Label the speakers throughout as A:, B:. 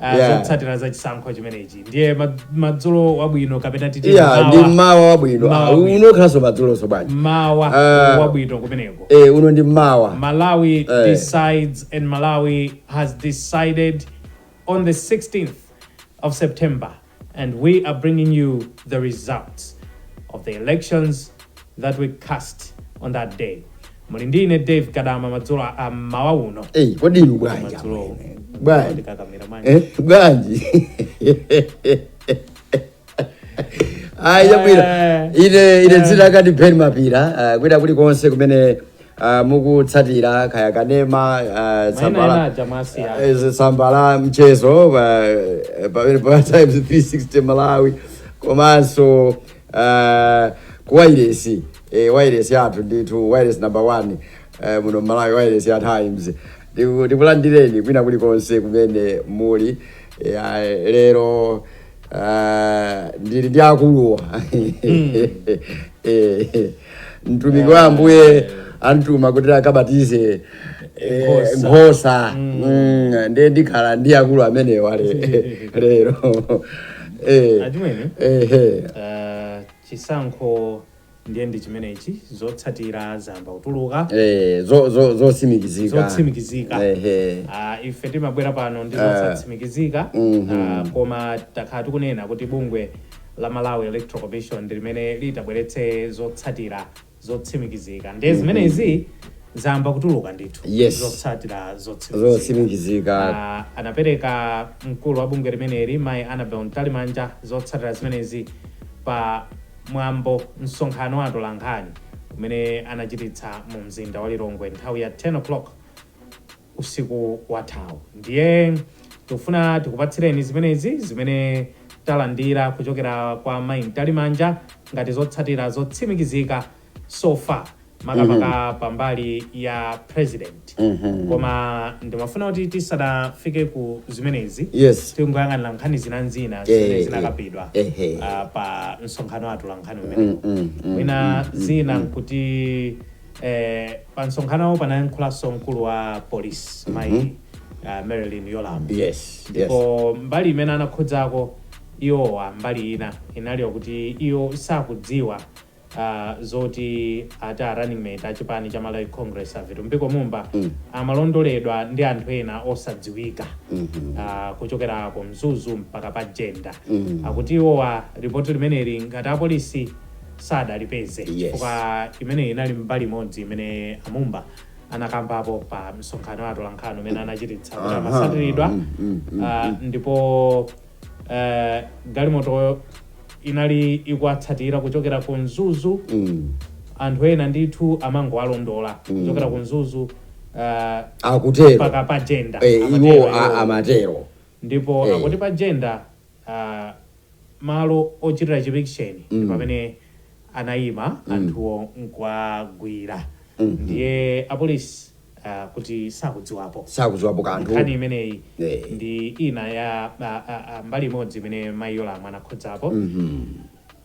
A: ah, Yeah. zotsatira za chisankho chimenechi ndiye ma- madzulo wabwino kapena titi iya ndi mawa- mmawa
B: wabwino Mmawa Ah, wabwino. uno ukhalanso madzulonso bwanji mmawa Ah.
A: wabwino kumeneko Eh, uno ndi
B: mmawa Malawi
A: Eh. decides and Malawi has decided on the 16th of September and we are bringing you the results of the elections that we cast on that day muli ndi ine dave kadama madzulo a- a mmawa uno eyi kodi inu bwanji
B: Madzulo. amwene? bwanji ndikakamira manje Eh, bwanji ayi yabwira ine ine dzina akati ben phiri ah, kwina kulikonse kumene ah, mukutsatira kaya kanema ah, maina tsamba ena la- aja mwasiya eh, tsamba la mchezo pa- eh, pamene pa times 360 malawi komanso ah, ku wailesi eh, wailesi yathu ndithu wailesi number one eh, muno malawi wailesi ya times Ndiku- ndikulandireni kwina kulikonse kumene muli Eh, ah, lero Ah, ndili ndi akuluwa Eh, mtumiki wa ambuye amtuma kuti akabatize eh, Nkhosa. nkhosa Mm, ndiye ndikhala ndi akulu amenewa le- lero Eh, Achimwene? eh, eh.
A: Ah, chisankho ndiye ndi chimenechi zotsatira zayamba kutuluka eh, zo- zo-
B: zotsimikizika zotsimikizika
A: Ehe. Ah, ife timabwera pano ndi zosatsimikizika Mhm. Ah, koma takhala tikunena kuti bungwe la malawi electoral commission ndi limene litabweretse zotsatira zotsimikizika ndiye zimenezi zayamba kutuluka ndithu Yes. zotsatira zotsimikizika zotsimikizika
B: Ah, anapereka
A: mkulu wa bungwe limeneli mayi annabel mtalimanja zotsatira zimenezi pa Mwambo, Msonkhano wa atolankhani umene anachititsa mu mzinda wa Lilongwe nthawi ya 10:00 usiku wathawu. Ndiye tikufuna tikupatsireni zimenezi zimene talandira kuchokera kwa Mayi Mtalimanja ngati zotsatira zotsimikizika so far makamaka pambali ya president koma ndimafuna kuti tisanafike ku zimenezi Yes. tingoyang'anira nkhani zinanzina Eh, zimene eh, zinakambidwa eh, eh. ah, pa msonkhano wa atolankhani umenewu mwina zina nkuti eh, pa msonkhanowo panayankhulanso mkulu wa polisi mayi ah, merlyne yolamu yes yes ndipo mbali imene anakhudzako iwowa mbali ina inali yakuti iwo sakudziwa uh zoti ati a running mate achipani cha Malawi Congress a Vitumbiko Mumba mm. amalondoledwa ndi anthu ena osadziwika mm -hmm. uh, kuchokera ku Mzuzu mpaka pa Jenda mm -hmm. akuti iwowa ripoti limeneli ngati apolisi sadalipeze chifukwa yes. imeneyi inali mbali imodzi imene a Mumba anakambapo pa msonkhano wa atolankhani umene anachititsa kuti amasatiridwa mm, mm, mm, uh, ndipo eh, galimotoyo inali ikuwatsatira kuchokera ku mzuzu Mm. anthu ena ndithu amangowalondola kuchokera ku mzuzu eh, akutero mpaka pa jenda Eh, amatero iwo a- iwowo. amatero
B: ndipo
A: Eh. akuti pa jenda ah, malo ochitira chipikisheni ndi pamene anayima anthuwo nkuwagwira ndiye apolisi ah, akuti sakudziwapo sakuziwapo kanthu nkhani imeneyi Eh. ndi ina ya a, a, a, mbali imodzi imene mayi Yolamu anakhudzapo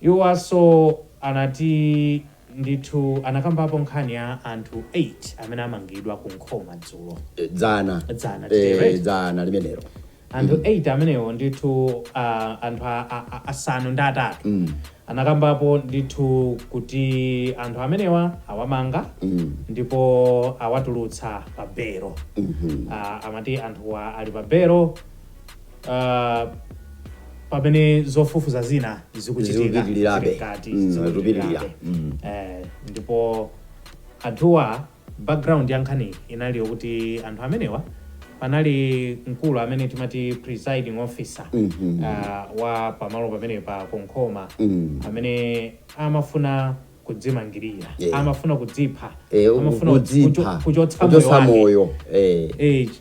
A: iwowanso anati ndithu anakambapo nkhani ya anthu 8 amene amangidwa ku Nkhoma dzulo Eh, dzana Dzana, Eh, right?
B: dzana limenelo Anthu 8
A: amenewo ndithu a anthu a, a, a, asanu ndi atatu anakambapo ndithu kuti anthu amenewa awamanga ndipo awatulutsa pa belo Ah, amati anthuwa ali pa belo ah, pamene zofufuza zina zikuchitika Zikupitirirabe. zili mkati, Mm, zikupitirirabe. zikupitirira. Mm. Eh, ndipo anthuwa Background ya nkhaniyi inali yokuti anthu amenewa panali mkulu amene timati presiding officer ah, wa pamalo pamenepa ku Nkhoma amene amafuna kudzimangirira Yeah. amafuna kudzipha Eh, amafuna kudzipha kucho- kuchotsa moyo kuchotsa wake. moyo eh. Eh,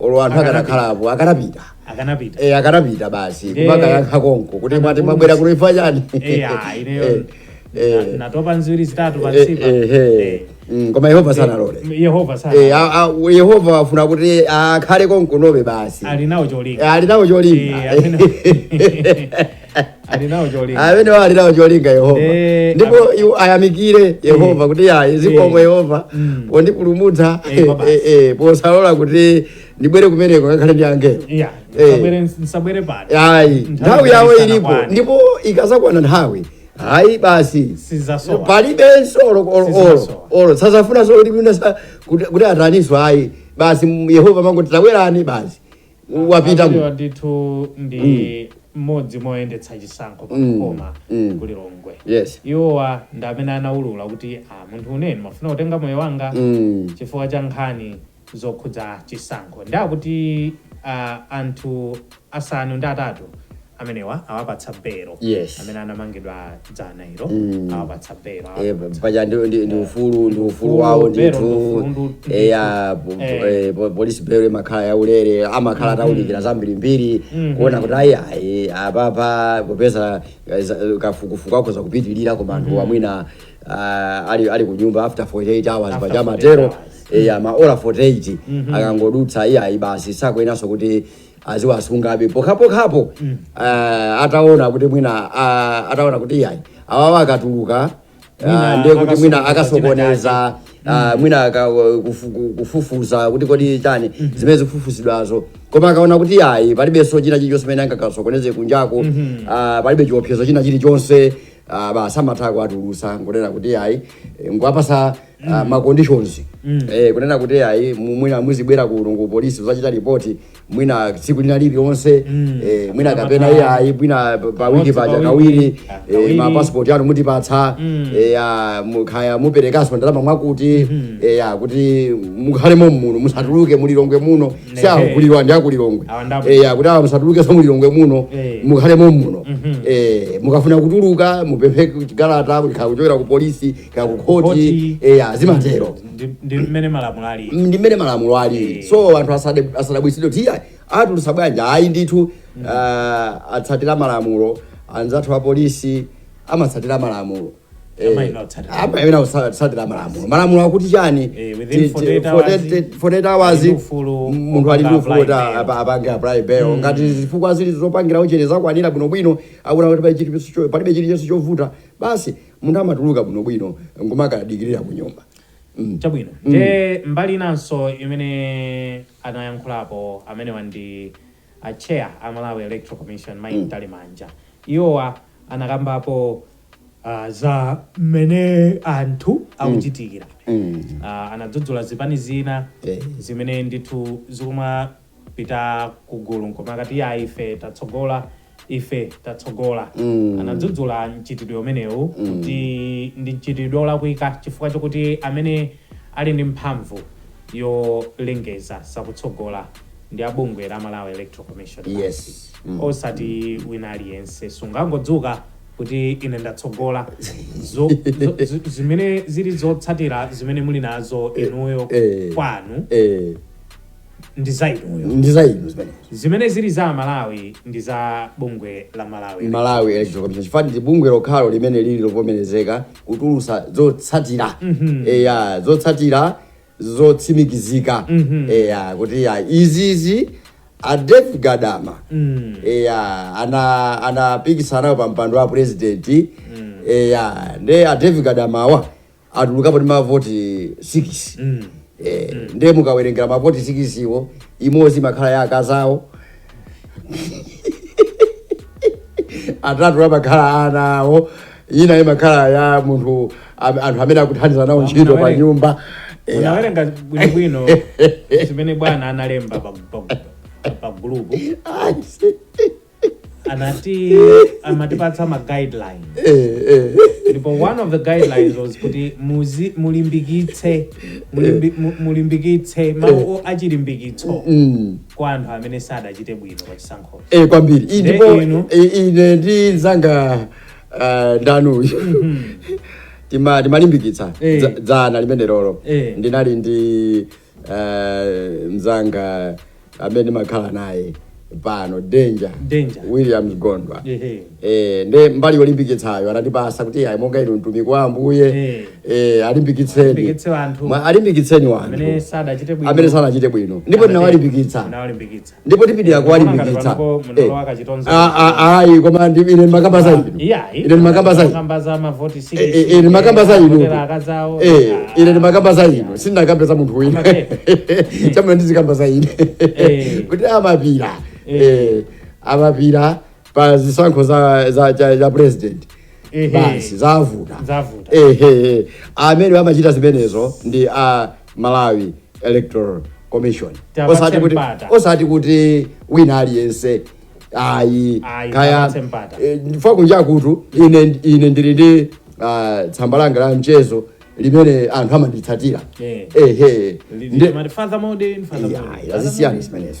B: olo anthu akanapanda apo akanapita akanapita Eh, akanapita basi Eh. kumakayankha konko kuti mwati mwabwera kulifa chani Eh, ah,
A: ineyo Eh, eh. na- natopa ndi ziwiri zitatu Eh, pansipa eh, eh.
B: Mm, koma yehova sanalole yehova Eh, sana a- a- yehova wafuna kuti akhale konkunobe basi ali nawo cholinga Eh, ali nawo cholinga Eh, amene- ali nawo cholinga amene ali nawo cholinga yehova Eh, ndipo am- iwo ayamikire yehova kuti ayi zikomo Eh. yehova Mm. pondipulumutsa Eh, eh, kwabasi. eh, eh, posalola kuti ndibwere kumeneko ngakhale ndi angelo Yeah, Eh. msabwere- msabwere
A: pano ayi Nthawi nthawi
B: yawo isana ilipo kwane. ndipo ikazakwana nthawi ayi basi sizasowa palibenso olo- olo- olo Sizasowa. olo sazafunanso kuti mwina sa- kuti kuti ataniso ayi basi m- yehova amangoti tabwerani basi wapita Amenewa
A: ndithu ndi mmodzi mwa oyendetsa chisankho pa Mm. Nkhoma Mm. ku lilongwe yes iwowa ndi amene anaulula kuti ah, mutu umene mafuna kutenga moyo wanga Mm. chifukwa cha nkhani zokhudza chisankho ndi akuti ah, anthu asanu ndi atatu amenewa awapatsa belo Yes. amene anamangidwa dzana ilo Mm. awapatsa belo Eh, awapatsa- paja ndi
B: ndi- ndi ufulu ndi ufulu Ufulu, wawo belo, ndithu ndi ufulu, ndi- ndi- eya po- po- Eh. eh, po- police belo imakhala yaulere amakhala ataunikira zambirimbiri Mhm. kuona kuti ayi ayi apapa popeza eh, za- eh, kafukufuku akhoza kupitirira koma anthuwa mwina ah, ali ali ku nyumba after 48 hours After paja 48 amatero hours. eya maola 48 akangodutsa iye ayi basi sakuyenaso kuti aziwasungabe pokhapokhapo mm. uh, ataona kuti mwina uh, ataona kuti yayi awawa akatuluka uh, ndiye kuti mwina akasokoneza uh, mwina aka, uh, kufu, kufufuza kuti kodi chani mm -hmm. zimene zikufufuzidwazo koma akaona kuti yayi palibenso china chilichonse chimene angakasokoneze kunjako mm -hmm. uh, palibe chiopsezo china chilichonse uh, basi amatha kuwatulusa nkunena kuti yayi nkuwapasa ah, ma conditions eh, kunena kuti ayi mu- mwina muzibwera kuno ku polisi kuzachita ripoti mwina tsiku lina lililonse eh, mwina kapena iye ayi mwina pa- pa wiki Once paja pa kawiri wiki, ah, eh, kawiri. ma passport anu mutipatsa eh, ah, kaya muperekanso ndalama mwakutimwakuti eh, ah, kuti mukhale mommuno musatuluke mu Lilongwe muno si awo Ehe. kulilwa ndi a ku Lilongwe Awa ndapo. eh, ah, kuti awa musatulukenso mu Lilongwe muno Eh. mukhale mommuno eh, mukafuna kutuluka mupemphe chikalata kuchokera ku polisi kaya ku khoti Khoti. eya zimatero Ndi- ndi
A: mmene malamulo ali ndi mmene
B: malamulo ali Eh. so anthu asade- asadabwisidwe kuti iya atulusa bwanji ayi ndithu ah, atsatira malamulo anzathu a polisi amatsatira malamulo Eh, Amayenera kutsatira. amayenera kutsatira malamulo malamulo akuti chani Eh, within Ti- ti- 48 hours, 48 48 hours ali ndi ufulu munthu ali ndi wopanga ufulu kuti apply bail. apa- apange apply bail ngati zifukwa zili zopangira uchenjeza zakwanira bwinobwino akuona kuti pali chilichonse cho- palibe chilichonse chovuta basi munthu amatuluka bwinobwino nkumakadikirira kunyumba mm. chabwino
A: mm. nde mm. mbali inanso imene anayankhulapo amenewa ndi a chair a malawi electoral commission mayi mm. mtalimanja iwowa anakambapo uh, za mmene anthu mm. akuchitikira mm. mm. uh, anadzudzula zipani zina yeah. zimene ndithu zikuma pita ku gulu nkumakati iyayi ife tatsogola ife tatsogola anadzudzula mchitidwe umenewu kuti ndi mchitidwe olakwika chifukwa chokuti amene ali ndi mphamvu yolengeza zakutsogola ndi a bungwe la Malawi Electoral Commission basi. Yes. Mm. osati wina aliyense sungangodzuka kuti ine ndatsogola Zo- zo- zi- zimene zili zotsatira zimene muli nazo inuyo Eh. kwanu Eh, ndi za inuyo ndi za inu zimene zimene zili za amalawi ndi za bungwe la malawi malawi electoral commission chifukwa ndi
B: bungwe lokhalo limene lili lovomerezeka kutulutsa zotsatira eya zotsatira zotsimikizika eya kuti ya izizi a David Gadama eya ana anapikisanawo pa mpando wa president eya nde a David Gadamawa atulukapo ndi mavoti 6 mm. eh, mm. ndiye mukawerengera mavoti 6 iwo imodzi imakhala ya akazawo atatu amakhala a ana awo ina imakhala ya munthu am- anthu amene akuthandiza nawo ntchito pa nyumba Eh,
A: unawerenga bwinobwino zimene bwana analemba pa- pa- pa gulupu ayi, si- anati amatipatsa ma guidelines Eh, eh. ndipo one of the guidelines was kuti muzi mulimbikitse mulimbi, mu- mulimbikitse mawu achilimbikitso Mm. kwa anthu amene sadachite bwino pa chisankhochi Eh, kwambiri Ine Nde
B: ndipo inu? i- ine ndi nzanga ah, ndanu tima timalimbikitsa Eh. dza- dzana limenelolo Eh. ndinali ndi uh, mzanga amene ndimakhala naye pano danger, danger. williams gondwa yeah. eh, nde mbali yolimbikitsayo anandipasa kuti ayi monga inu mtumiki wa ambuye yeah. eh, alimbikitseni alimbikitseni wanthu amene sadachite bwino ndipo ndinawalimbikitsa ndipo tipitiliza kuwalimbikitsa Eh, ah, ah, ayi koma ndi- ine ndimakamba za inu ine ndimakamba za inu Eh, eh, eh, ndimakamba za inu Eh, ine ndimakamba za inu sindinakambe za munthu wina Amake. mumafuna ndizikamba za ine Eh. kuti amapira Eh. eh, amapira pa zisankho za, za, za, za president Ehe. basi zavuta zavuta ehe amene amachita zimenezo ndi a Malawi Electoral Commission Tiwapatse osati kuti mpata. osati kuti wina aliyense ayi Ayi, kaya tiwapatse mpata. eh, ndifa kunja kutu ine ine ndili ndi ah, tsamba langa la mchezo limene anthu amanditsatira Eh. ehe Ndi- Ndi- mati father modern, father Yeah, modern, yeah, father zisiyeni modern. zimenezo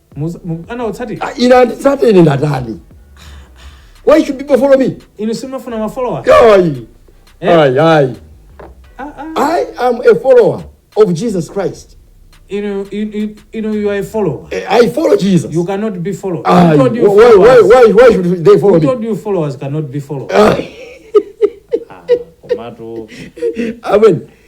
B: Muza- mu- anawatsatira Ah, ine anditsate ine ndatani why should people follow me inu simafuna mafollowa
A: ayi Eh? ayi
B: ayi Ah, ah. i am a follower of jesus christ inu
A: inu- inu- inu you are a follower Eh, i follow jesus
B: you cannot be followed
A: Aye. who told you why,
B: why, followers why, why should they follow who me told you followers cannot
A: be followed Aye. komatu
B: amen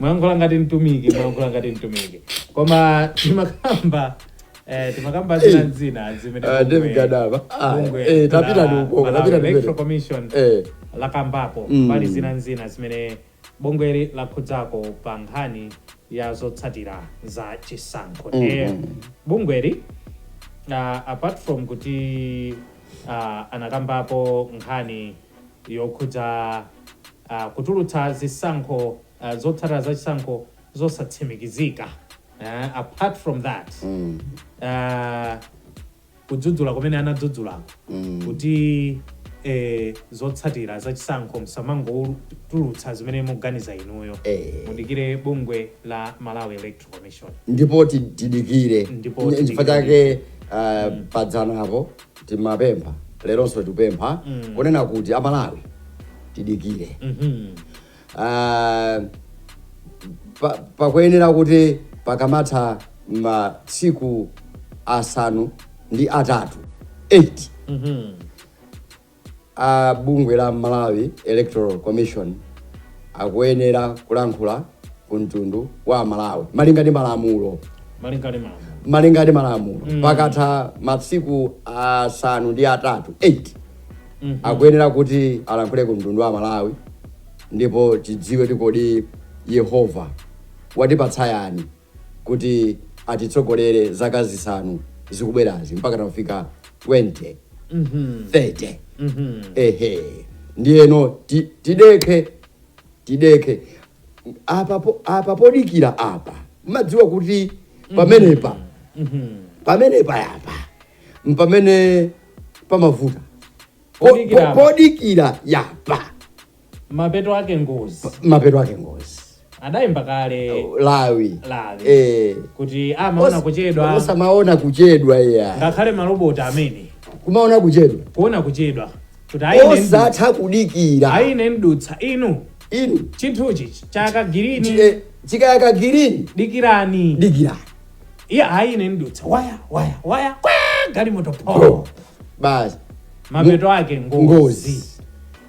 A: mwayankhula ngati mtumiki mwayankhula ngati mtumiki koma timakamba eh, timakamba zina n'zina zimene Ah, bungwe- David Gadama. Ah, bungwe eh, la tapita ndi ukoko, Malawi tapita ndi Electoral mbele. Commission Eh. lakambapo Mm. pali zina n'zina zimene bungweli lakhudzako pa nkhani ya zotsatira za chisankho ndiye bungweli ah, apart from kuti ah, anakambapo nkhani yokhudza a Kutulutsa zisankho a zotsatira za chisankho zosatsimikizika a apart from that a kudzudzula komwe anadzudzulako kuti e zotsatira za chisankho msamangotulutsa zimene muganiza inuyo Eh. mudikire bungwe la Malawi Electoral ndipo
B: tidikire chifukwa chake uh, padzanapo timapempha leronso tikupempha mm. kunena kuti amalawi tidikire mm -hmm. uh, pakuyenera pa kuti pakamatha masiku asanu ndi atatu 8 mm -hmm. A bungwe la Malawi Electoral Commission akuyenera kulankhula ku mtundu wa Malawi malinga ndi malamulo malinga ndi malamulo malinga ndi malamulo mm. pakatha masiku asanu ndi atatu 8 mm -hmm. akuyenera kuti alankhule ku mtundu wa Malawi ndipo tidziwe kuti kodi Yehova watipatsa yani kuti atitsogolere zaka zisanu zikubwerazi mpaka tafika 2030 ehe ndiyeno ti- tidekhe tidekhe apa po- apa podikira apa mumadziwa kuti pamenepa pamenepa yapa mpamene pamavuta Po- Podikira po- apa. podikira yapa
A: mapeto ake ngozi mapeto ake ngozi adayimba kale lawi
B: lawi
A: eh kuti amaona kuchedwa osamaona kuchedwa
B: iya ngakhale maroboti
A: amene kumaona kuchedwa
B: kuona kuchedwa kuti
A: ayine mdu- osatha
B: kudikira ayine
A: mdutsa inu inu chinthuchi chayaka girini chike- chikayaka
B: girini
A: dikirani dikirani iye ayine mdutsa waya waya waya kwa galimoto po basi
B: mapeto
A: ake ngozi ngozi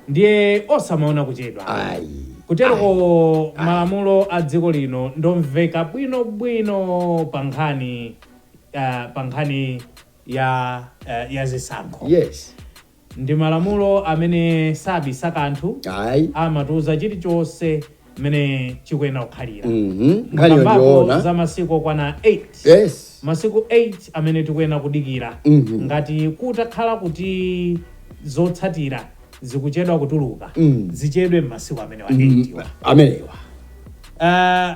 A: ndiye osamaona kuchedwa ayi kuteroko malamulo a dziko lino ndomveka bwinobwino pa nkhani eh, pa nkhani ya eh, ya zisankho yes ndi malamulo amene sabisa kanthu ayi amatiuza chilichonse mmene chikuyenera kukhalira Mhm. Nkhaniyo Mukambako ndiyoona. za masiku okwana 8 Yes. masiku 8 amene tikuyenera kudikira Mhm. ngati kutakhala kuti zotsatira zikuchedwa kutuluka Mm. zichedwe m'masiku amenewa 8 wa Amenewa. Ah,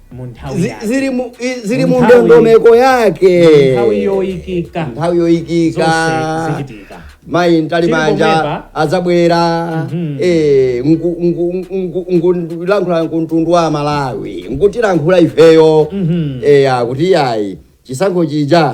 A: mu nthawi Zi- yake zili mu- i-
B: zili mu Nthawi- ndondomeko yake Mu nthawi yoyikika
A: nthawi yoyikika zonse zichitika mayi Tili Mtalimanja
B: pomwepa. adzabwera Mhm. eh, ngu- ngu- ngu- ngu- nkulankhula mtundu wa malawi nkutilankhula ifeyo Mhm. eya kuti yayi chisankho chija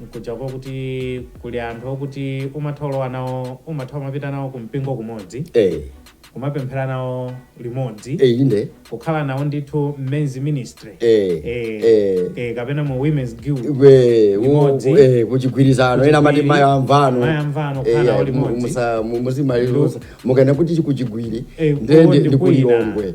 A: Nkutheka kuti kuli anthu okuti umatha olowa nawo umatha umapita nawo ku mpingo kumodzi ee. kumapemphera nawo limodzi ee inde. kukhala
B: nawo ndithu
A: m'men's ministry ee ee ee kapena mu women's guild ee limodzi iwo
B: ee kuchigwirizano ena amati mayi amvano mayi
A: amvano kukhala nawo limodzi mmazimaliro
B: mukaenda kuti kuChichiri Ee, ndende kuwo ndi ndi ku Lilongwe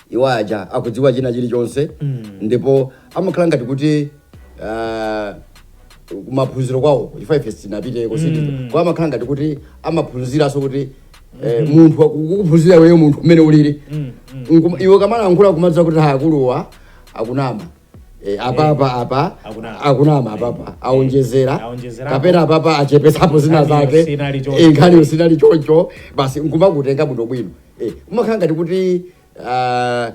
B: iwo aja akudziwa china chilichonse ndipo amakhala ngati kuti ah, kumaphunziro kwawo chifukwa ife sitinapite kusiti kwa amakhala ngati kuti amaphunziranso kuti eh, munthu akukuphunzira iweyo munthu umene ulili Nkuma- iwe ukamalankhula kumadziwa kuti akuluwa akunama Eh, apapa apa Akunama. akunama apapa aonjezera Aonjezerapo. kapena apapa achepesapo zina Nkhaniyo zake sinali choncho. Eh, nkhaniyo sinali choncho basi nkumakutenga bwino bwino Eh, umakhala ngati kuti ah,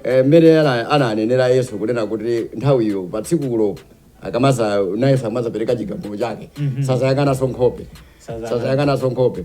B: eh, mmene ana- ananenera Yesu kunena kuti nthawiyo pa tsikulo akamaza naye akamazapereka chigamulo chake sazayang'ananso nkhope Sazayang'ana. sazayang'ananso nkhope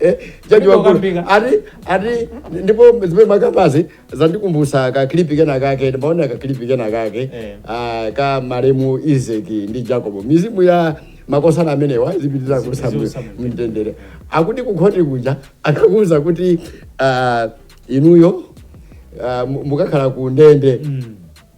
B: Eh, jaji wamkulu Ukambika. ati ati ndipo zimene mmakambazi zandikumbutsa ka clip kena kake ndimaona ka clip kena kake Eh. ah, ka malemu Isaac ndi Jacob mizimu ya makosana amenewa izipitiriza kuusa Izipitiriza kuusa mu- mtendere akuti kukhoti kuja akakuuza kuti ah, inuyo ah, mu- mukakhala ku ndende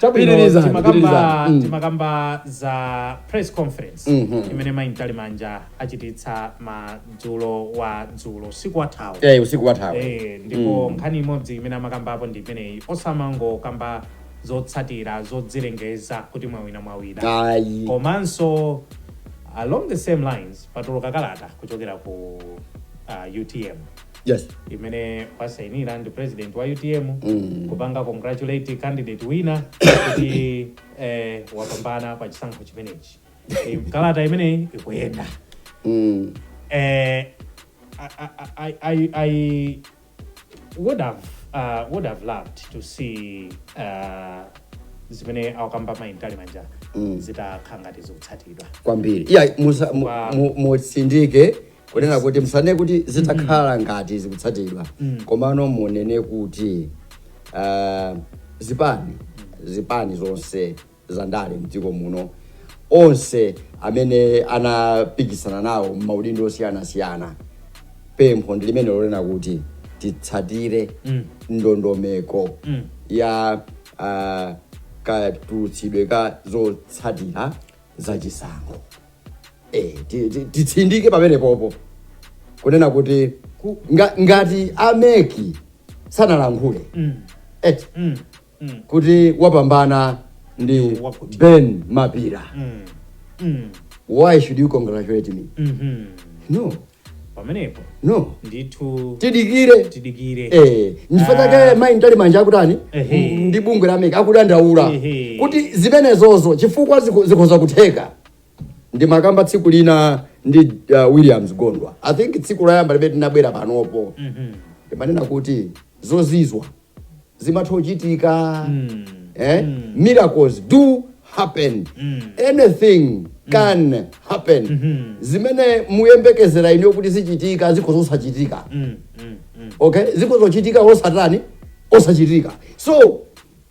A: Chabwino Pitiriza, timakamba pitiriza. Mm. timakamba za press conference Mhm. imene mayi Mtalimanja achititsa madzulo wa dzulo usiku wathawu Eh, usiku wathawu Eh, ndipo nkhani imodzi imene amakambapo ndi imeneyi osamangokamba zotsatira zodzilengeza kuti mwawina mwawina ayi komanso along the same lines patuluka kalata kuchokera ku uh, utm yes imene wasainira ndi president wa utm Mm. kupanga congratulate candidate wina kuti eh, wapambana pa chisankho chimenechi Eh, kalata imeneyi ikuyenda Mm. eh, I, I, I, I would have uh, would have loved to see uh, zimene akukamba mayi Mtalimanja Mm. zitakhala ngati zikutsatidwa kwambiri iya
B: musa- mu- Wow. mu- mutsindike kunena kuti musanene kuti zitakhala ngati zikutsatidwa komano munene kuti ah, zipani zipani zonse za ndale mdziko muno onse amene anapikisana nawo m'maudindo osiyanasiyana pempho ndi limene lonena kuti titsatire ndondomeko ya ah, katulutsidwe ka zotsatira za chisankho eh, ti- ti- titsindike pamene popo kunena kuti Ku- nga, ngati a MEC sanalankhule Mm. eh, Mm. Mm. kuti wapambana ndi ben mapira Mm. Mm. why should you congratulate me Mhm. no
A: pamenepo no ndithu tidikire
B: tidikire Eh, nchifukwa chake Ah. mayi Mtalimanja akutani Ehe. M- ndi bungwe la MEC akudandaula Ehe. kuti zimenezozo chifukwa zikho- zikhoza kutheka ndimakamba tsiku lina ndi uh, williams gondwa i think tsiku loyamba limene tinabwera panopo Mhm. ndimanena kuti zozizwa zimatha kuchitika eh? miracles do happen anything can happen zimene muyembekezera ine kuti zichitika zikhozosachitika okay zikhozochitika osatani osachitika so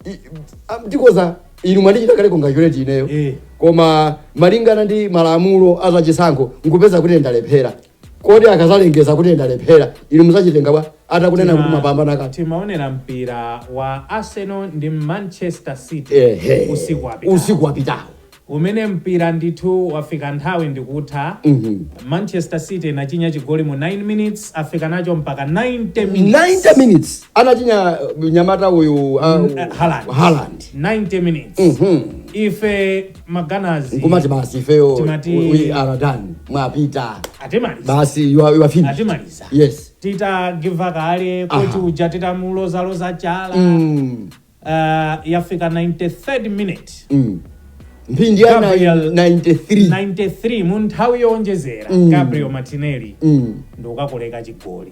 B: i- am- zikhoza inu mwandichita kale congratulate ineyo Eh. koma malingana ndi malamulo azachisankho nkupeza kuti ndalephera kodi akazalengeza kuti ndalephera inu muzachitenga bwa atakuuzani kuti mwapambana ngati timaonera
A: mpira wa arsenal ndi manchester city ehe usiku wapitawo.
B: usiku wapitawo umene mpira
A: ndithu wafika nthawi ndikutha Mhm. manchester city inachinya chigoli mu 9 minutes yafika nacho mpaka 90 minutes 90 minutes anachinya uh,
B: mnyamata uyu uh, Haaland. Haaland. 90 minutes
A: Mhm. ife ma Gunners nkumati basi
B: ifeyo Timati- we- we are done
A: mwapita
B: atimaliza basi you are, you are finished atimaliza yes
A: titagiva kale Aha. kuti uja titamulozaloza chala mm. uh, yafika 93rd minute
B: Mm. mphindi ya Gabriel- 93 93 mu nthawi
A: yowonjezera Mm. gabriel martinelli Mm. ndikukakoloweka chigoli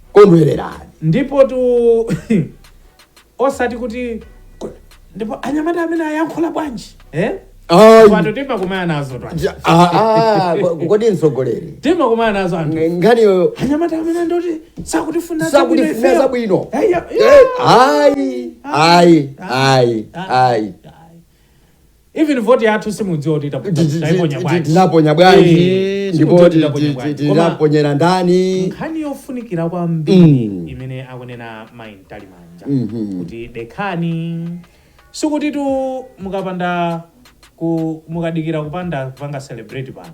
B: Kondwererani.
A: Ndipotu osati kuti ndipo anyamata amene ayankhula bwanji eh? Pano timakumana nazo
B: kodi mtsogoleri timakumana nazo
A: anthu
B: nkhaniyo anyamata amene
A: nditi sakutifuna sakutifuna zabwino
B: ayi ayi ayi ayi
A: Even vote yathu simudziwa kuti tapo- Ti- ti- taiponya ti- bwanji. tinaponya
B: bwanji Eh, ndipo simudziwa ti- titaponya ti- bwanji. ti- Koma tinaponyera ndani nkhani yofunikira
A: kwambiri Mm. imene akunena mayi mtalimanja Mhm. kuti dekhani sikutitu mukapanda ku mukadikira kupanda kupanga celebrate pano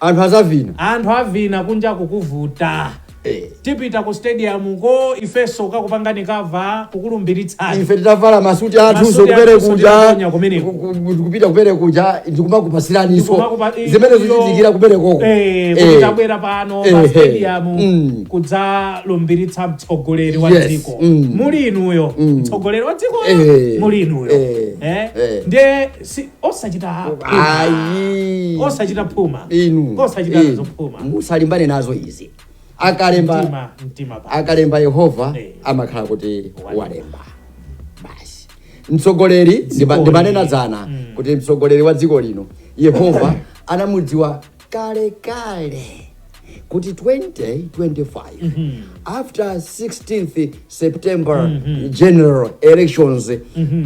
A: anthu sazavina anthu avina kunja kukuvuta Eh. tipita ku stadium ko ifeso kukakupangani cover kukulumbiritsani ife titavala masuti
B: athuso Masuti ku parade athuso kuja tinaponya kumeneko. ku- ku- kupita ku parade kuja ndikumakupasiraniso Ndikumakupa- i- zimene iyo- zochitikira ku parade koko Eh, kuti
A: tabwera pano pa Eh, eh. stadium Mm. kudzalumbiritsa mtsogoleri wa Yes, dziko mm. muli inuyo mtsogoleri wa dziko Eh, muli inuyo eh, Eh? eh. ndiye si osachita phuma. ayi osachita phuma inu osachita eh, zophuma musalimbane nazo
B: izi akalemba mtima mtima pa akalemba yehova Eh. amakhala kuti Walemba. walemba basi mtsogoleri ndiba- Dzikoli. ndimanena dzana Mm. kuti mtsogoleri wa dziko lino yehova anamudziwa kalekale kuti 2025 after 16th september general elections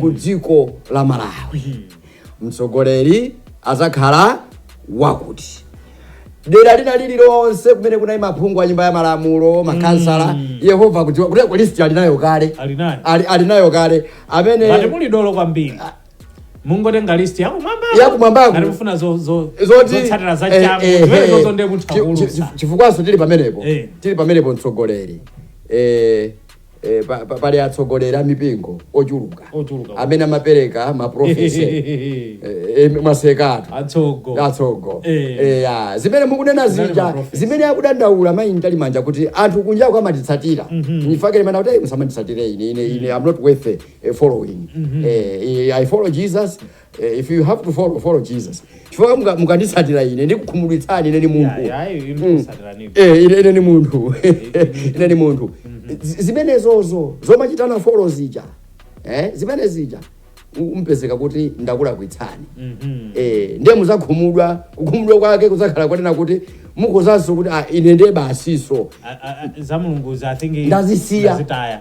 B: ku dziko la malawi mtsogoleri azakhala wakuti dera lina lililonse kumene kunali maphungu a nyumba ya malamulo makhansala yehova kudziwa kuti list alinayo kale Alinayo. Ali- alinayo kale amene Ngati muli dolo kwambiri.
A: mungotenga list yakumwamba Yakumwambako.
B: ngati mufuna
A: zo- zo- zoti zotsatira za eh, changu eh, zimenezo eh. zonde kuti Chi- chi- akulu chi- chifukwanso
B: tili pamenepo Eh. tili pamenepo mtsogoleri Eh, eh, pa- pa- pali atsogoleri a mipingo ochuluka Ochuluka. amene amapereka maprofesi mwasekatu atsogo atsogo Eh. Eh, ya. zimene mukunena Zinali zija maprofesi. zimene akudandaula mayi Mtalimanja kuti anthu kunjako amatitsatira nde fact imanena kuti "Ei, musamanditsatire ine ine ine am not worth it." eh, following eh, eh, i follow jesus eh, if you have to follow follow jesus chifukwa muka- mukanditsatira ine ndikukhumudwitsani ine ni munthu Eh, ine ine ni munthu ine ni munthu Z- zimenezozo zomachitana follow zija eh, zimene zija u- mpezeka kuti ndakulakwitsani eh, ndiye muzakhumudwa kukhumudwa kwake kuzakhala konena kuti mukozanso kuti ah, ine ndiye basiso za mulungu
A: za thingi Ndazisiya. ndazitaya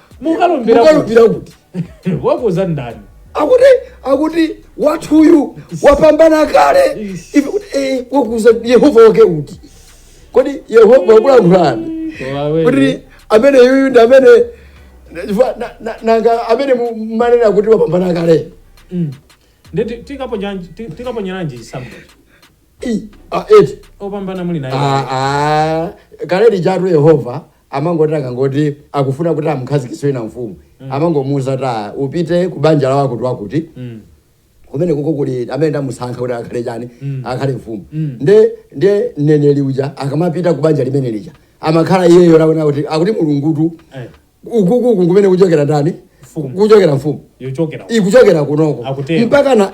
A: mukalumbira ukalumbira
B: kuti
A: wakuza ndani akuti
B: akuti wathuyu wapambana kale Ish. ife kuti eh, wakuza yehova wake uti kodi yehova wakulankhulani kuti amene yuyu ndi amene chifukwa na- na- nanga amene mu- mmanena kuti wapambana
A: kale tikaponyeranji chisankho I, ah, eti opambana muli naye Ah, ah,
B: kale lijatu yehova amangoti akangoti akufuna kuti amkhazikitse wina mfumu amangomuuza kuti "Ah, upite ku banja la wakuti wakuti kumene kuko kuli amene ndamusankha kuti akhale chani akhale mfumu nde nde mneneri uja akamapita ku banja limene lija amakhala iyeyo waona kuti akuti mulungutu Eh. ukukuku kumene kuchokera ndani Mfumu. kuchokera mfumu ikuchokera ikuchokera kunoko Akutero. mpaka na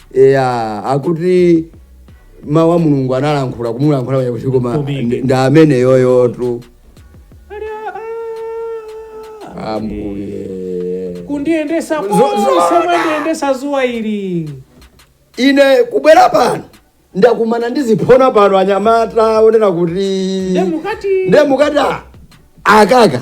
B: eya akuti mawu a mulungu analankhula kumulankhula uja kuti koma Kubiki. ndi- ndi amene
A: yuyutu ambuye kundiyendesa Zo- zo- konse mwandiyendesa dzuwa ili
B: ine kubwera pano ndakumana ndi ziphona pano anyamata onena kuti ndemukati ndemukati akaka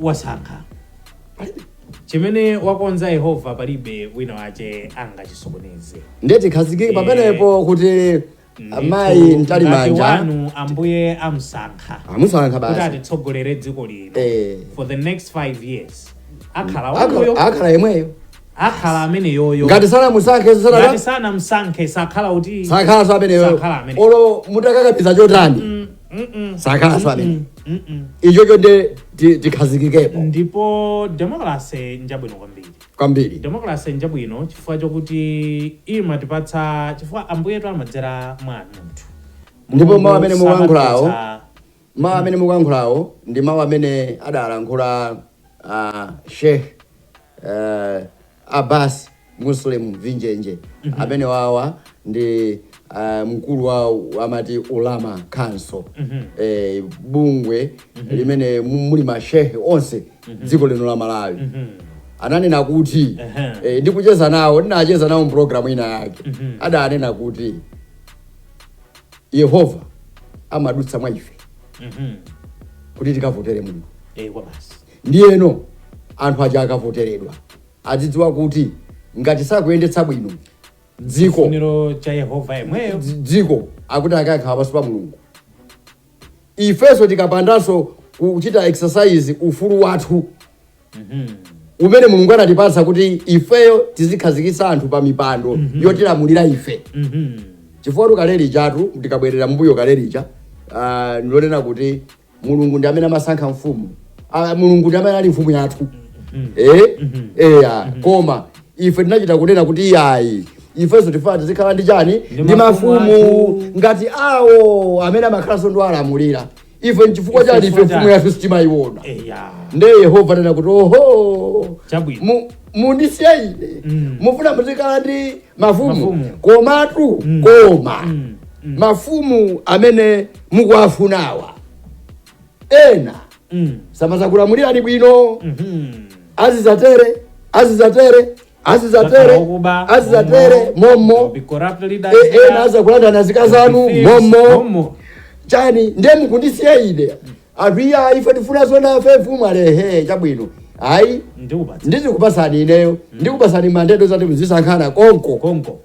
A: wasankha palibe chimene wakonza yehova palibe wina wache angachisokoneze ndiye tikhazikike
B: pamenepo kuti amayi Ndithu, Mtalimanja wanu
A: ambuye amsankha amusankha kuti
B: basi
A: atitsogolere dziko lino Eh. for the next five years akhala Akhala- wanuyo akhala yemweyo akhala ameneyoyo ngati
B: sanamusankhenso sanaka
A: ngati sanamsankhe sakhala kuti sakhalanso ameneyoyo
B: Sakhala amene. olo mutakakamiza chotani Mm, mm, mm. sakhalanso amene Mm, mm, mm. ichocho nde ti- tikhazikikepo
A: ndipo demokrase njabwino kwambiri kwambiri demokrase njabwino chifukwa chokuti imatipatsa chifukwa ambuyetu amadzera mwa munthu ndipo mawu
B: amene mukuyankhulawo samatipatsa- Mawu amene mukuyankhulawo ndi mawu amene adalankhula uh, Sheikh uh, Abbas Muslim Vinjenje amene wawa ndi uh, mkulu wa amati Ulama Council eh, bungwe limene mu- muli mashehe onse dziko lino la Malawi ananena kuti Ehe. eh, ndikucheza nawo ndinacheza nawo mpulogalamu ina yake adanena kuti yehova amadutsa mwa ife kuti tikavotere mulungu Eh, ndiyeno anthu aja akavoteredwa adzidziwa kuti ngati sakuyendetsa bwino dziko
A: funiro cha yehova yemweyo dzi- dziko
B: akuti akakhala pansi pa mulungu ifenso tikapandanso kuchita exercise ufulu wathu umene mulungu anatipatsa kuti ifeyo tizikhazikitsa anthu pa mipando yotilamulira ife chifukwatu kale lijatu tikabwerera mbuyo kale lija ah, ndilonena kuti mulungu ndi amene amasankha mfumu Ah, mulungu ndi amene ali mfumu yathu Eh? eya koma ife tinachita kunena kuti iyayi ifenso tifaa tizikhala ndi chani ndi mafumu mafumu athu. ngati awo amene amakhalanso ndi owalamulira ife nchifukwa chani ife mfumu yathu sitimayiona eya nde yehova ananena kuti oho Chabwino. mu- mundisiye ine Mm. mufuna muzikhala ndi mafumu Mafumu. komatu Mm. koma Mm. Mm. mafumu amene mukuwafunawa ena Mm. samazakulamulirani bwino Mhm. azizatere azizatere azidzatere azidzatere mommo E- ena azakulandana azikazi anu mommo chani ndiye mukundisiya ine anthu iya ife tifuna ifenso mfumu alehe chabwino ayi ndikupatsa ndizikupasani ineyo ndikupasani mandate yoti muzisankhana konko konko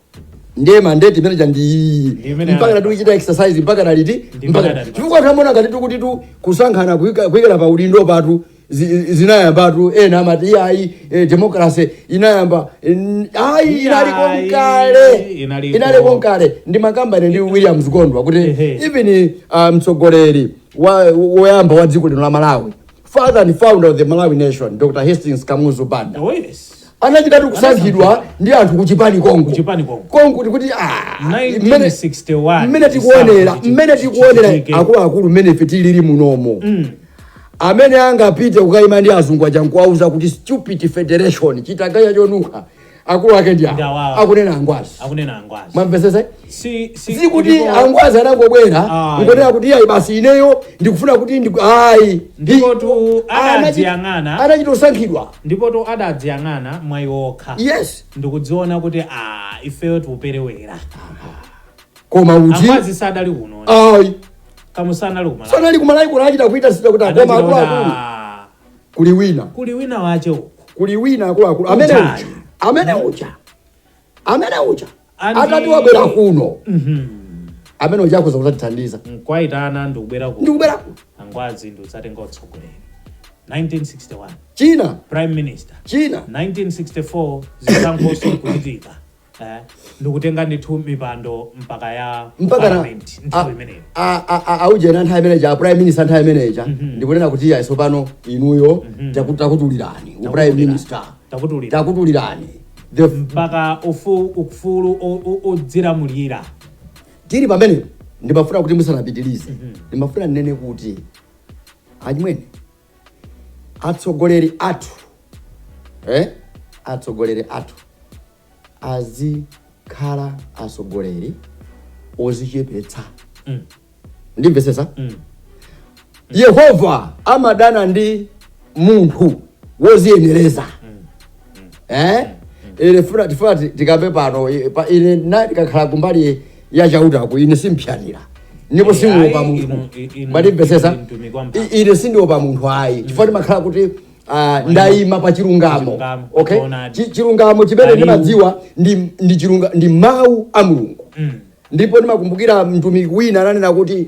B: ndiye mandate imene chandiyi Ndimene mpaka ana- tikuchita exercise mpaka taliti Ndimene mpaka anatipasa. chifukwa tamona ngati tikutitu kusankhana kuika- kuikira pa udindo patu zi- zinayambatu ena amati iyayi eh, demokrase inayamba mm, ayi inaliko Iyayi, nkale inaliko. inaliko nkale ndimakambirana ndi williams gondwa kuti Ehe. even uh, mtsogoleri wa- woyamba wa dziko lino la malawi father and founder of the malawi nation dr hastings kamuzu banda Oh, yes. anachitatu kusankhidwa ndi anthu kuchipani konko Kuchipani konko. konko kuti kuti ah, mmene- 1961
A: mmene tikuonera chisankho
B: mmene tikuonera chichitike. akuluakulu mmene ife tilili munomo amene angapite kukaima ndi azungu aja nkuwauza kuti stupid federation chitaganya chonunkha akulu ake ndi Ndi awa. awo akunena angwazi akunena angwazi mwamvesesa si si sikuti ndipo- angwazi anangobwera Ayi. ngonena kuti ayi basi ineyo ndikufuna kuti ndi ayi
A: Ndipotu Anachi- anadziyang'ana. anachita
B: kusankhidwa ndipotu
A: adadziyang'ana mwa iwo okha yes ndikudziona
B: kuti
A: a ifeyo tikuperewera
B: koma uti angwazi sanali kuno
A: ayi
B: kamuzu anali
A: kumala sanali kumalawi
B: kuno anachita kuitanitsa kuti a koma akuluakulu kuli wina kuli winawake uku kuli wina akuluakulu amene Uja. uja amene uja amene uja Andi- atati wabwera kuno amene uja akhoza kuzatithandiza nkuwayitana
A: ndikubwera ku ndikubwera kuno angwazi ndikuzatenga utsogoleri 1961
B: kenaka prime minister
A: kenaka 1964 zisankhoso kuchitika Eh, ndikutenga ndithu mipando mpaka ya mpaka na parliament a- nthawi imeneyo a- a- a- aujeni
B: nthawi imeneja a prime minister nthawi imeneja ndikunena kuti ayi tsopano inuyo taku- takutulirani u prime minister takutulira takutulirani the
A: mpaka ufu- ufulu o- o-
B: odzilamulira ndili pamene ndimafuna kuti musanapitilize ndimafuna ndinene kuti achimwene atsogoleri athu eh? atsogoleri athu azikhala atsogoleri ozichepetsa mm. ndimvesesa mm. yehova amadana ndi munthu woziyenereza mm. mm. eh? mm. tifuna tikambe pano ine ndikakhala kumbali ya chautaku ine simphyanira ndipo sindiopa Ayi, munthu inu- i- inu- mwatimvesesa inu mtumiki wa mphamvu. I- ine sindiopa munthu ayi chifukwa ndimakhala kuti ah, ndayima pa chilungamo Chilungamo, okay choonadi. Chi- chilungamo chimene Aliwu. ndimadziwa ndi ndi chilunga ndi mawu a mulungu ndipo ndimakumbukira mtumiki wina ananena kuti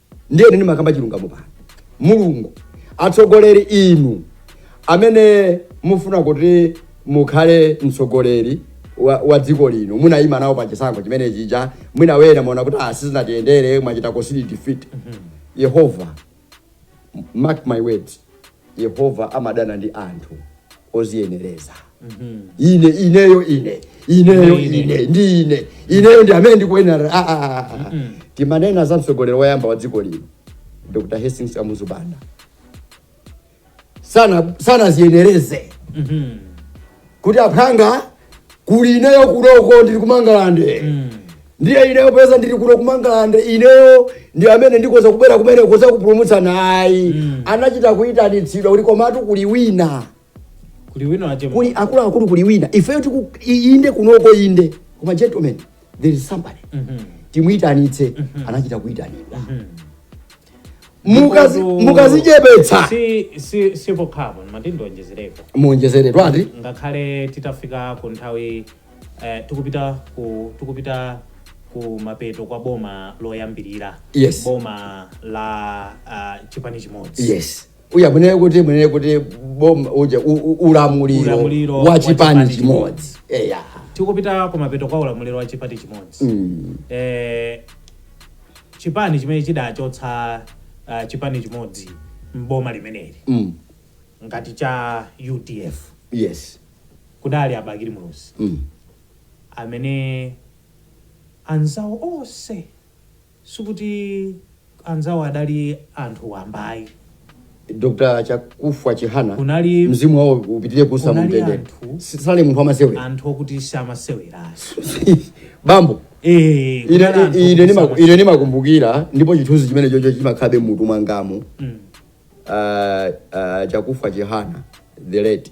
B: ndiye ine ndimakamba chilungamo pano mulungu atsogoleri inu amene mufuna kuti mukhale mtsogoleri wa, wa dziko lino munayima nawo pa chisankho chimene chija mwina wena muona kuti ah, sizinatiyendere mwachita concede defeat yehova mark my words Yehova amadana ndi anthu oziyenereza. Ine ineyo ine ineyo Ine, ine. ine ndi ine ineyo ndi amene ndikuyenera. Ah, ah, ah, ah. Timanena za mtsogoleri woyamba wa dziko lino Dr. Hastings Kamuzu Banda sana sanaziyenereze kuti aphwanga kuli ineyo kunoko ndili kumangalande ndiye ineyo poti ndili kuno kumangalande ineyo ndi amene ndikhoza kubwera kumeneko ndikhoza kupulumutsa ayi anachita kuyitanitsidwa kuti komatu kuli wina kuli wina wache kuli akuluakulu kuli wina ifeyo tiku i- inde kunoko inde koma gentlemen there is somebody timuyitanitse anachita kuyitanidwa Mukazi- Ndipotu- mukazichepetsa si
A: si si pokhapo mati ndionjezereko muonjezere twati
B: ngakhale titafika
A: ku nthawi eh, tikupita ku tikupita ku mapeto kwa boma loyambirira Yes. boma la uh, chipani chimodzi yes uya
B: munene kuti munene kuti boma uja u- u- ulamuliro Ulamuliro wa wa chipani chipani chimodzi eya
A: tikupita kumapeto kwa ulamuliro wa chipani chimodzi Mm. eh, chipani chimene chidachotsa uh, chipani chimodzi mboma limeneli Mm. ngati cha udf yes kudali a Bakili Muluzi Mm. amene anzawo onse Sikuti anzawo adali anthu wamba ayi.
B: Dr Chakufwa Chihana Kunali mzimu wawo upitire kuusa mu kunali mtendere. anthu S- Sanali munthu wamasewera. anthu okuti
A: samasewera
B: ayi. Bambo Eh, ine kunali anthu ine- ine okuti ndimaku- samasewera. ine ndimakumbukira ndipo chithunzi chimenechocho chimakhalabe mutu mwangamu. Mm. Ah, ah, Chakufwa Chihana the late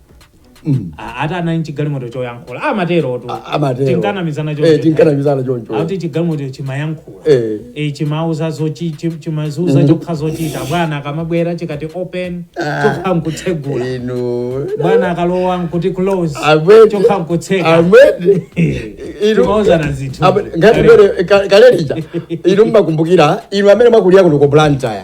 A: Ah, ati anali nchigalimoto choyankhula amatero tu A- amatero. tinkanamizana choncho. Eh,
B: tinkanamizana choncho. akuti chigalimoto
A: chimayankhula Eh. Eh, chimauza zochi- chi- chimazuza chokha zochita bwana akamabwera chikati open chokha nkutsegula inu bwana akalowa nkuti close Amwene. chokha nkutseka Amwene. Inu- Timauzana zinthu. Amwene. Ngati Kale. mbere- ka-
B: kale lija inu mmakumbukira inu amene mwakulira kuno ku blantyre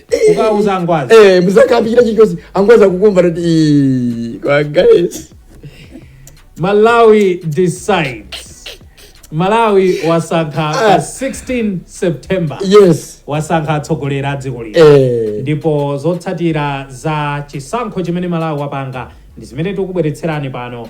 B: ukawuza angwazi
A: eh muzakambira chichosi
B: angwazi akukumva kuti "Ii, kwa guys
A: malawi decides malawi wasankha Ah. pa 16 september yes wasankha
B: atsogoleri
A: a dziko lino eh ndipo zotsatira za chisankho chimene malawi wapanga ndi zimene tikubweretserani pano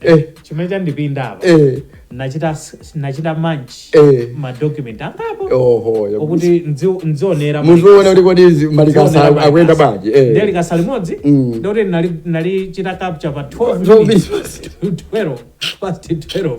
A: Eh. chimene chandipinda apa Eh, nachita s- nachita manch eh. madocument angapo Oho, ya- okuti nzi- nzionera muziona kuti
B: kodi izi malikasa aku- akuyenda bwanji eh. ndi likasa
A: limodzi Mm. ndikuti nali- nalichita capture pa 12 Zobi- minutes. 12 past 12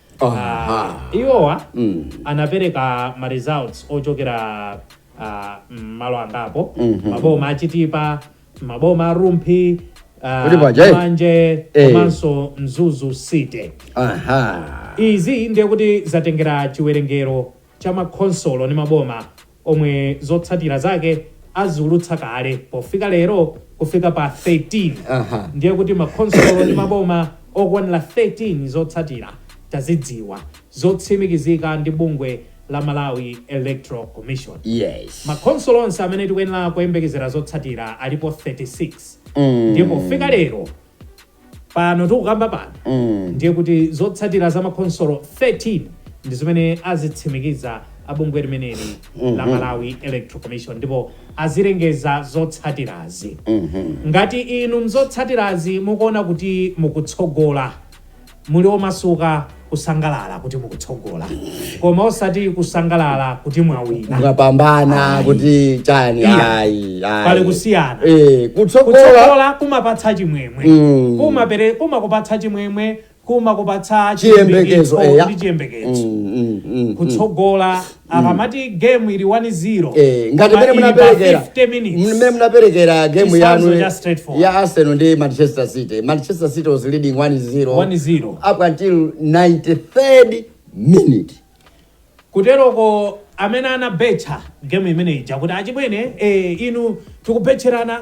A: Aha. uh, iwowa Mm. anapereka ma results ochokera uh, mmalo angapo Mhm. maboma a Chitipa maboma a Rumphi uh, Kuti paja, eh? manje Eh. komanso Mzuzu City Aha. izi ndiye kuti zatengera chiwerengero cha ma khonsolo ndi maboma omwe zotsatira zake aziulutsa kale pofika lero kufika pa 13 Aha. ndiye kuti ma khonsolo ndi maboma okwanira 13 zotsatira tazidziwa zotsimikizika ndi bungwe la Malawi Electoral Commission yes ma
B: khonsolo onse amene
A: tikuyenera kuyembekezera zotsatira alipo 36 Mm. nde pofika lero pano tikukamba pano mm. ndiye kuti zotsatira za makhonsolo 13 ndi zimene azitsimikiza abungwe limeneli mm -hmm. la mhm. Malawi Electoral Commission ndipo azilengeza zotsatirazi mm -hmm. ngati inu mzotsatirazi mukuona kuti mukutsogola muli omasuka kusangalala kuti mukutsogola koma osati kusangalala kuti mwawina mwapambana Ayi.
B: kuti chani Iya. ayi ayi. Pali
A: kusiyana. eh kutsogola
B: kutsogola
A: kumapatsa chimwemwe Mm. kumapere kumakupatsa chimwemwe kumakupatsa chiyembekezo
B: chiyembekezo eya
A: ndi chiyembekezo Mm, mm, mm, mm. kutsogola akamati game ili 1-0 Eh, ngati koma mene ili
B: pa munaperekera 50 minutes. mene munaperekera game Chitsanzo yanu cha straightforward. ya Arsenal ndi Manchester City. Manchester City was leading 1-0 1-0. up until 93rd minute.
A: kuteroko amene anabetcha game imeneija kuti achibwene eh, inu tikubetcherana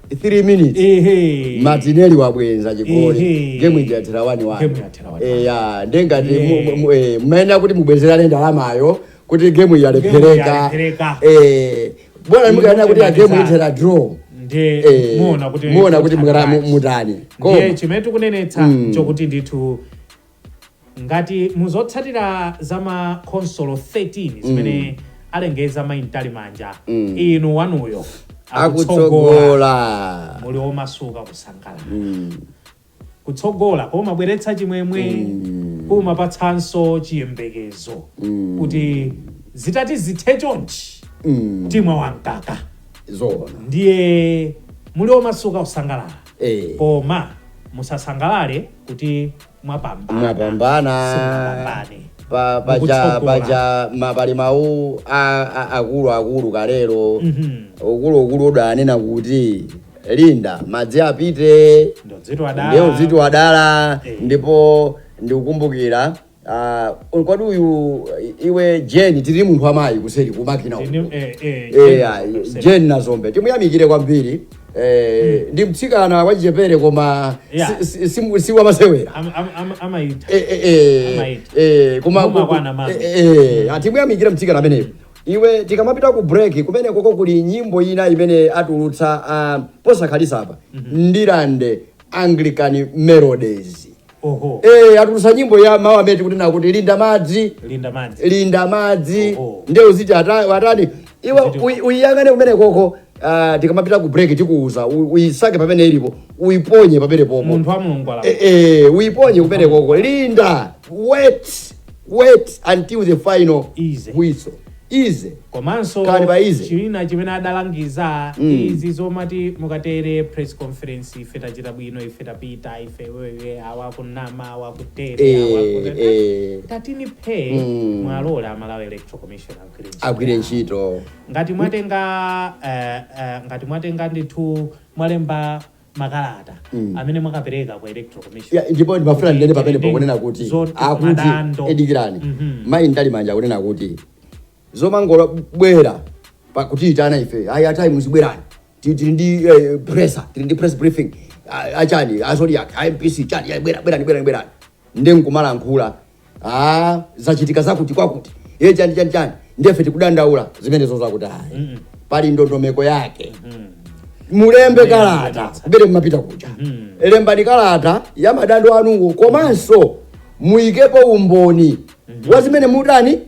B: 3 minutes ehe Martinelli wabwenza chigoli Ehe. gemu ija yathera wani wani Game yathera wani wani. eya nde ngati Ehe. mmayenera kuti mubwezerane ndalamayo kuti gemu yalephereka yalephereka. Eh, bwana mukayenera kuti gemu Muthandiza. ithera draw ndiye Eh, muona kuti muona kuti mukatani. mukara- mu- mutani ndiye koma chimene
A: tikunenetsa Mm. chokuti ndithu Ngati mu zotsatira za ma khonsolo 13 zimene alengeza Mai Mtalimanja, inu wanuyo akutsogola, akutsogola
B: muli omasuka
A: kusangalala. Kutsogola kumabweretsa chimwemwe kumapatsanso chiyembekezo kuti zitati zithe chonchi timwa wamkaka zoona ndiye muli
B: omasuka
A: kusangalala Eh. koma musasangalale kuti mwapambana
B: mwapambana simunapambane pa- paja Mukutsogola. paja ma- pali mawu a- a- akuluakulu kalero Mhm. ukuluukulu udanena kuti linda madzi apite ndiye udziti wadala ndiye udziti wadala Eh. ndipo ndikukumbukira Ah, kodi uyu iwe Jeni tili munthu amayi kuseri kumakina uku. Ndinu- eh, eh, Eh, Jane ah, Joseph. Jeni Nazombe timuyamikire kwambiri Eh, ndi mtsikana wachichepere koma Yeah. si- si- si- si wamasewera Am- am- am- amaita Eh, eh, eh, Amaiti. eh, koma Muma ku- kwana mama. eh, eh, atimuyamikire mtsikana ameneyo iwe tikamapita ku break kumene koko kuli nyimbo ina imene atulutsa ah, posakhalisa apa Ndirande Anglican Melodies Oho. Eh, atulusa nyimbo ya mawu amene tikunena kuti linda madzi Linda madzi. linda madzi Oho. ndiye uziti ata- watani iwe Uziti- uyi- uyiyang'ane kumene koko ah, tikamapita ku break tikuuza u- uyisake pamene ilipo uyiponye pamene popo Munthu wa Mulungu
A: ala. Eh, eh, uyiponye kumene
B: koko linda wait wait until the final whistle ize komanso khalani
A: pa ease china chimene adalangiza mm. izi zomati mukatere press conference ife tachita bwino ife tapita ife wewe awakunama awakutere eh, awakutere eh. tatini phe mm. muwalole a Malawi Electoral Commission agwire
B: ntchito ngati mwatenga
A: uh, uh, ngati mwatenga ndithu mwalemba makalata Mm. amene mwakapereka ku electoral commission Ya, ndipo ndimafuna ndinene
B: pamene Ndi- pakunena kuti zoti akuti madando. edikirani Mhm. mayi Mtalimanja akunena kuti zomangobwera pakutiitana ife ayi atayi muzibwerani Ti- tili ndi eh, presa tili ndi press briefing A- achani a Zodiak MBC chani ayi, bwera- bwerani bwerani bwerani nde nkumalankhula ah, zachitika zakuti kwakuti e chani chani chani nde ife tikudandaula zimenezo zakuti ayi pali ndondomeko yake mulembe kalata kubere kumapita kuja lembani kalata ya madando anuwo komanso muyikepo umboni wa zimene mutani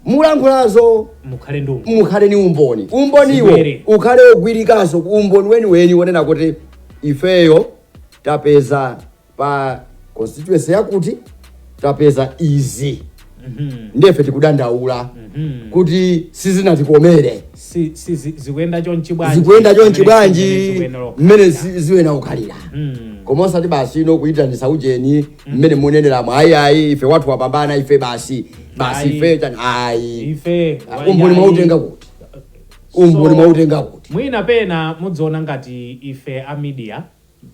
B: mukulankhulazo mukhale ndi umboni. mukhale ni umboni umboniwo Zibere. ukhale ogwirikanso umboni weniweni wonena kuti ifeyo tapeza pa constituency yakuti tapeza izi nde ife tikudandaula kuti sizinatikomere Si- si- zi-
A: zikuyenda chonchi bwanji zikuyenda chonchi Zimene- bwanji zimene
B: zikuyenda lokha. mmene zi- ziyenera kukhalira Mm. koma osati basi inu kuyitanisa ujeni mmene muneneramo ayi ayi ife wathu wapambana ife basi basi Ayi. ife chani ayi ife
A: Ah, umboni wayayi. mwautenga
B: kuti umboni So- mwautenga kuti mwina pena
A: mudziona ngati ife a media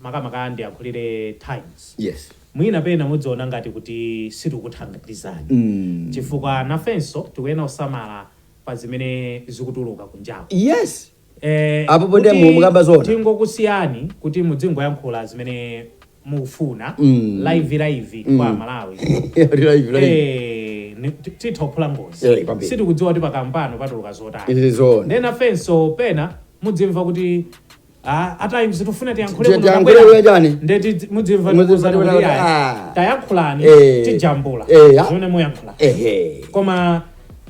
A: makamaka ndiyakhulire Times yes
B: mwina pena
A: mudziona ngati kuti sitikukuthandizani chifukwa nafenso tikuyenera kusamala pa zimene zikutuluka kunjaku yes
B: Eh, Apo pondepo kuti mu- mukamba zoona. tingokusiyani
A: kuti mudzingoyankhula zimene mufuna Mm. live live kwa aMalawi Lila ivi, lila ivi. Eh, ni- ti- titha kuphula Eh, ngozi kwambiri. sitikudziwa kuti pakamwapo patuluka zotani Izi zoona. nde nafenso pena mudzimva kuti Ah, a Times tufuna tiyankhule Tiye kuno tiyankhule kapena? kuya chani? Nde tidzi- mudzimva Mudzimva ndikuwuzani kuti kuti ayi. ah. Tayankhulani, Eh. tijambula. Eh, ah. Zimene muyankhula. ehe Koma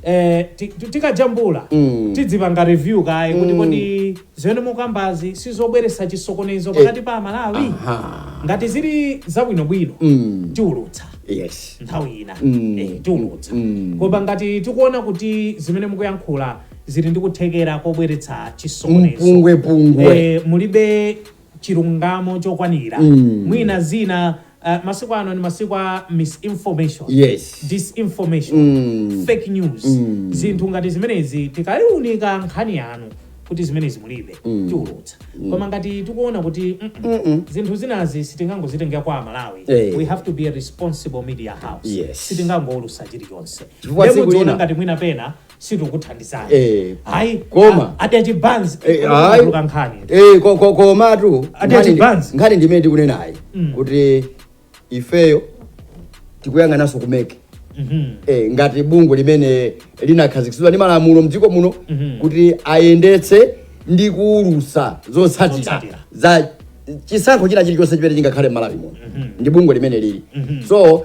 A: eh, ti- ti- tikajambula Mm. tidzipanga review kaye kuti kodi zimene mukambazi sizobweresa chisokonezo pakati pa amalawi Aha. ngati zili zabwinobwino Mm. tiulutsa yes nthawi ina Mm. eh, tiulutsa Mm. koma ngati tikuona kuti zimene mukuyankhula zili ndi kuthekera kobweretsa chisokonezo mpungwepungwe Eh, mulibe chilungamo chokwanira Mm. mwina zina eh, masiku ano ni masiku a misinformation yes disinformation Mm. fake news Mm. zinthu ngati zimenezi tikaliunika nkhani yanu kuti zimenezi mulibe tiulutsa koma ngati tikuona kuti mm, mm, Mm-mm. zinthu zinazi sitingangozitengera kwa amalawi Eh. we have to be a responsible media house Yes. sitingangoulusa chilichonse Chifukwa Nde tsiku mudziona lina- ngati mwina pena sitikuthandizani Eh. hayi Koma.
B: a- ati
A: achibanzi Eh, hayi. kutuka nkhani Eh, ko- ko-
B: komatu Ati nkhani ndi- advance. nkhani ndimene tikunenayi Mm. kuti ifeyo tikuyang'ananso ku MEC Mhm. eh, ngati bungwe limene linakhazikitsidwa ndi malamulo mdziko muno Mhm. kuti ayendetse ndi kuulusa zotsatira Zotsatira. za chisankho china chilichonse chimene chingakhale m'malawi muno ndi bungwe limene lili so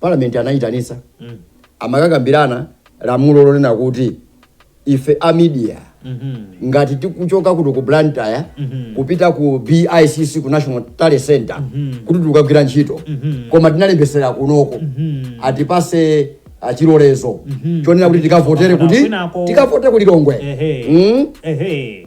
B: parliament anayitanisa Mm. amakakambirana lamulo lonena kuti ife a media Mhm. ngati tikuchoka kuno ku blantyre Mhm. kupita ku bicc ku national tally center Mhm. kuti tikagwire ntchito Mhm. koma tinalembesera kunoko Mhm. atipase chilolezo Mhm. chonena kuti tikavotere kuti Kwinako. tikavote ku lilongwe Ehe. Mm? Ehe.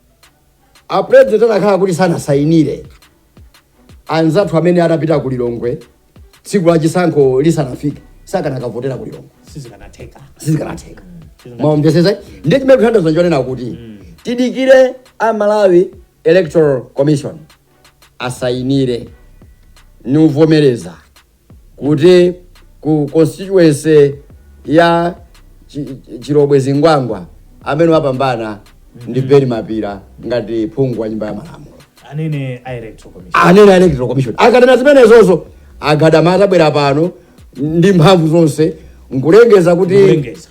B: a president anakhala kuti sanasayinire anzathu amene atapita ku lilongwe tsiku la chisankho lisanafike sakanakavotera ku lilongwe sizikanatheka sizikanatheka mwamvetsetsa ndiye chimene chithandiza ndichonena kuti tidikire a malawi electoral commission asayinire nkuvomereza kuti ku constituency ya Chi- Chi- chilobwe zingwangwa amene wapambana ndi beni mapira ngati phungu wa nyumba ya malamulo anene a
A: electoral commission anene electoral commission akanena zimenezozo agadama atabwera pano ndi mphamvu zonse nkulengeza kuti Nkulengeza.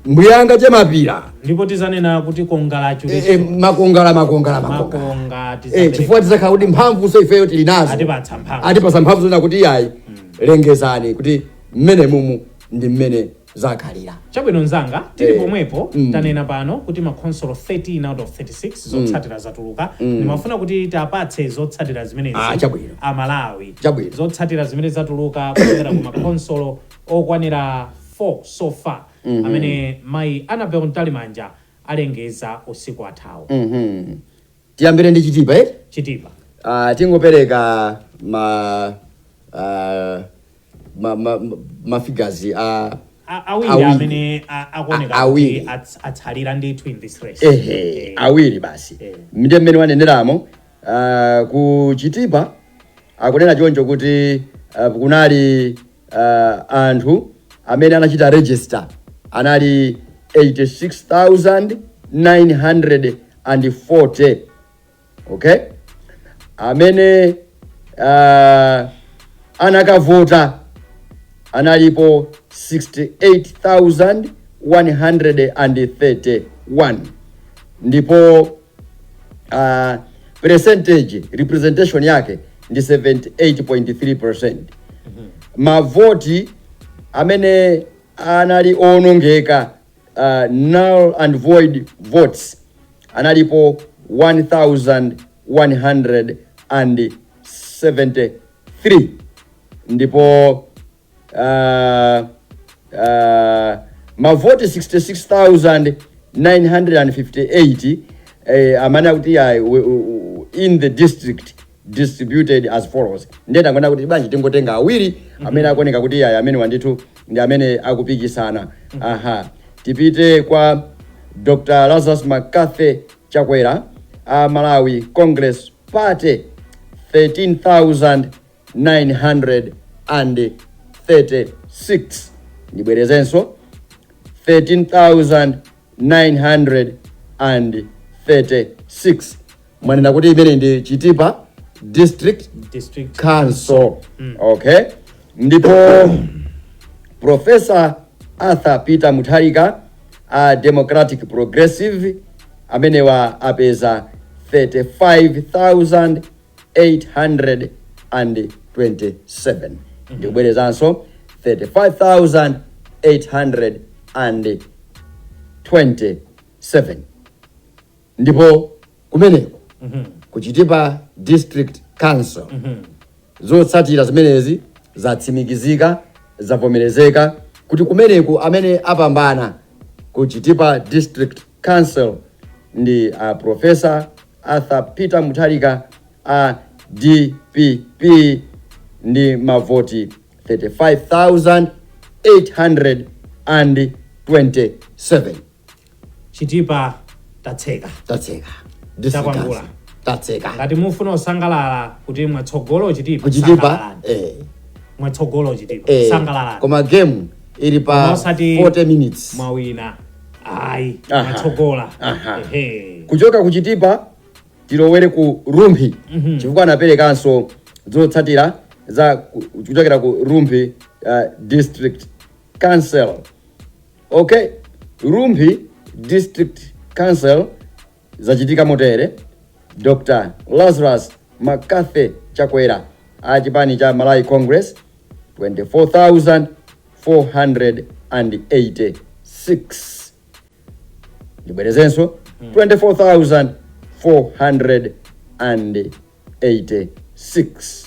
A: mbuyanga che mapira ndipo tizanena kuti kongala e, e, achuritso makongala makongala makongala
B: makonga e, chifukwa tizakhala kuti mphamvu so ifeyo tili nazo Atipatsa mphamvu. atipatsa mphamvu zonena kuti iyayi lengezani kuti mmene mumu ndi mmene zakhalira chabwino
A: nzanga tili Eh. pomwepo Mm. tanena pano kuti makhonsolo 13 out of 36 zotsatira zatuluka ndimafuna kuti tiwapatse zotsatira zimenezi Ah, chabwino. amalawi Chabwino. zotsatira zimene zatuluka kuchokera ku makhonsolo okwanira 4 so far amene mayi Annabel Mtalimanja alengeza usiku wathawu.
B: Tiyambire ndi Chitipa eti? Chitipa.
A: Ah, tingopereka
B: ma ah, ma ma ma figures a A- awiri
A: Awiri. amene a- A- akuoneka awiri. kuti ats- atsalira ndithu in this race. ehe Eh, awiri basi
B: Eh. ndiye mmene waneneramo ah, ku Chitipa akunena choncho kuti ah, kunali uh, anthu amene anachita register anali 86940 okay amene uh, anakavota analipo 68131 ndipo uh, percentage representation yake ndi 78.3% mavoti amene anali owonongeka uh, null and void votes analipo 1173 ndipo uh, uh, mavoti 66958 eh, amene akuti ayi, we- u- u- in the district distributed as follows ndiye tangoona kuti bwanji tingotenga awiri amene akuoneka kuti ayi amenewa ndithu ndi amene akupikisana aha tipite kwa dr lazarus mccarthy chakwera a malawi congress party 13936 ndibwerezenso 13936 mwanena kuti imeneyi ndi chitipa district council okay ndipo profesa arthur peter mutharika a democratic progressive amenewa apeza 35,827 ndibwerezenso 35,827 ndipo kumeneko ku chitipa district council zotsatira zimenezi zatsimikizika zavomerezeka kuti kumeneku amene apambana ku chitipa district Council ndi a Prof. Arthur Peter Mutharika a dpp ndi mavoti 35,827.
A: Chitipa tatseka. Tatseka.
B: District Takwangula. Council.
A: Tatseka. Ngati mufuna kusangalala kuti mwatsogola Chitipa. Kuchitipa. sangalalani. Eh. Mwatsogola Chitipa. Eh. Sangalalani. Koma game
B: ili pa Koma osati 40 minutes. Mwawina.
A: ayi Aha. mwatsogola Aha.
B: Ehe. kuchoka ku chitipa tilowere ku rumphi Mhm. chifukwa anaperekanso zotsatira za ku- kuchokera ku rumphi uh, district council okay rumphi district council Zachitika motere, Dr Lazarus McCarthy Chakwera a chipani cha Malawi Congress 24486 ndibwerezenso 24486